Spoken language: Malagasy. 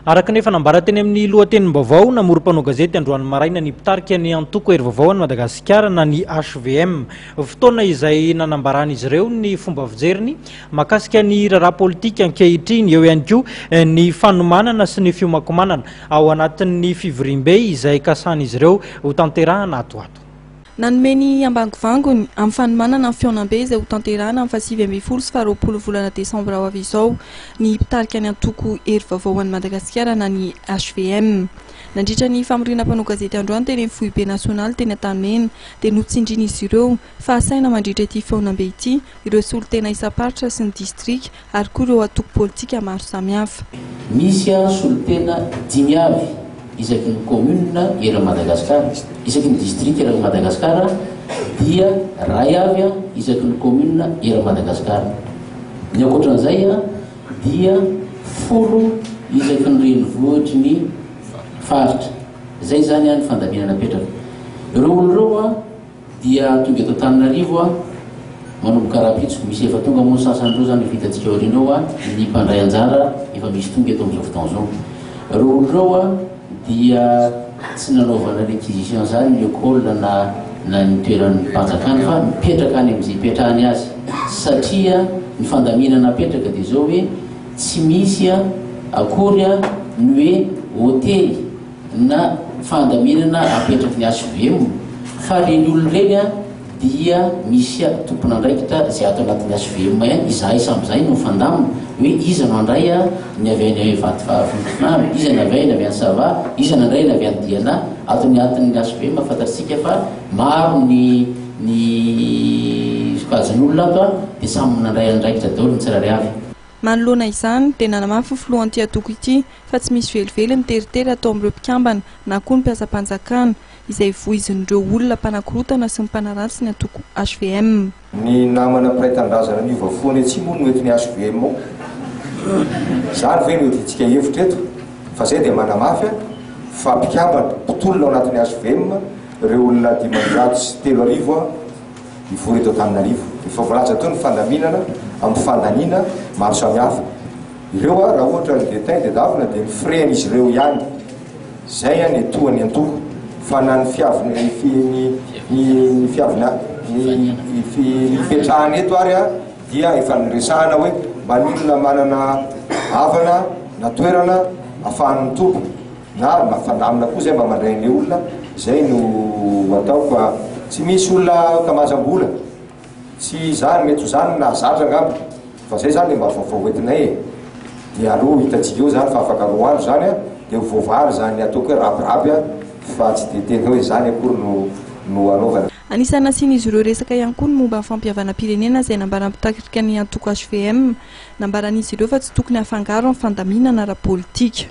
Araka ny efa nambara teny amin'ny lohatenim-baovao, namory mpanao gazety androany maraina ny mpitarika ny antoko Herivavao an'i Madagasikara na ny hvm. Fotoana izay nanambaran'izy ireo ny fomba fijeriny mahakasika ny raharaha politika ankehitriny, eo ihany koa ny fanomanana sy ny fiomankomanana ao anatin'ny fivoriambe izay kasan'izy ireo hotanterahana ato ho ato. Nanome ny ambangovangony amin'ny fanomanana ny fihaonambe izay hotanterahina amin'ny fahasivy ambin'ny folo sy faharoapolo volana desambra ho avy izao ny mpitarika ny antoko Hery Vaovao ho an'i Madagasikara na ny hvm. Nandritra ny famoriana mpanao gazety androany teny amin'ny foibe nasionaly teny Antanimena dia notsindrian'izy ireo fa hasaina mandritra ity fihaonambe ity ireo solontena isam-paritra sy ny distrika ary koa ireo antoko politika maro samihafa. Misy ary solontena dimy avy isaky ny kaominina eran'i Madagasikara. Isaky ny distrika eran'i Madagasikara dia iray avy isaky ny kaominina eran'i Madagasikara. Ny ankoatran'izay dia folo isaky ny renivohitry ny faritra. Izay izany ny fandaminana napetraka ireo olona ireo. Dia tonga eto Antananarivo aho, manomboka rahampitso. Misy efa tonga moa ny sasany ireo izany efa hitantsika aoriana eo an, ny mpandray anjara efa misy tonga eto amin'izao fotoana izao. Ireo olona ireo an, dia tsy nanaovana requisition izany ny ecole na na ny toeran'ny mpanjakana fa mipetraka any amin'izay ipetrahany azy satria ny fandaminana apetraka dia izao hoe tsy misy an akory an ny hoe hotely na fandaminana apetraky ny HVM fa reny olona reny a dia misy a tompon'andraikitra zay ato anatin'ny HVM ihany izahay samy zay no fandamina hoe iza no andray a ny avy any Vatovavolotrnano iza ny avy any avy any Sava iza ny andray ny avy any Diana ato anatin'ny HVM fantatsika fa maro ny ny sokajin'olona ato a dia samy nandray andraikitra daholo ny tsirairay avy. Manoloana izany dia nanamafy ny filohan'ity antoko ity fa tsy misy velively ny teritery atao amin'ireo mpikambana na koa ny mpiasam-panjakana, izay voizin'ireo olona mpanakorotana sy ny mpanaratsy ny antoko hvm. Ny namana mpiray tanindrazana niova fo any atsimo no eto ny hvm ao. Izany ve no iadiantsika hevitra eto? Fa izay dia manamafy fa mpikambana, mpitolona ao anatin'ny hvm ireo olona dimanjato sy telo arivo. Nivory eto Antananarivo efa voalaza teo ny fandaminana amin'ny fandaniana maro samihafa. Ireo raha ohatra ry Vetin dia davina dia ny frais-n'izy ireo ihany. Izay ny etoa ny antoko. Fa na ny fiavina ny fiavina ny fipetrahana eto ary dia efa niresahana hoe maninona manana havana na toerana afahany mitombo. Na mba fandaminina koa zay mba mandray an'le olona, zay no atao fa tsy misy olona kamajam-bola, tsy izany, mety ho izany no nahazatra angamba, fa zay zany le mba vaovao hoentinay e, dia aleo ho hitantsika eo zany fa afaka roa andro zany an, dia ho voavaly izany ataoko hoe rabiraby an, fa tsy dia tena hoe izany akory no no anaovana. Anisan'ny nasian'izy ireo resaka ihany koa ny momba ny fampihavanam-pirenena izay nambaran'ny mpitaritrika ny antoko hvm. Nambaran'izy ireo fa tsy tokony hafangaro amin'ny fandaminana ara-politika.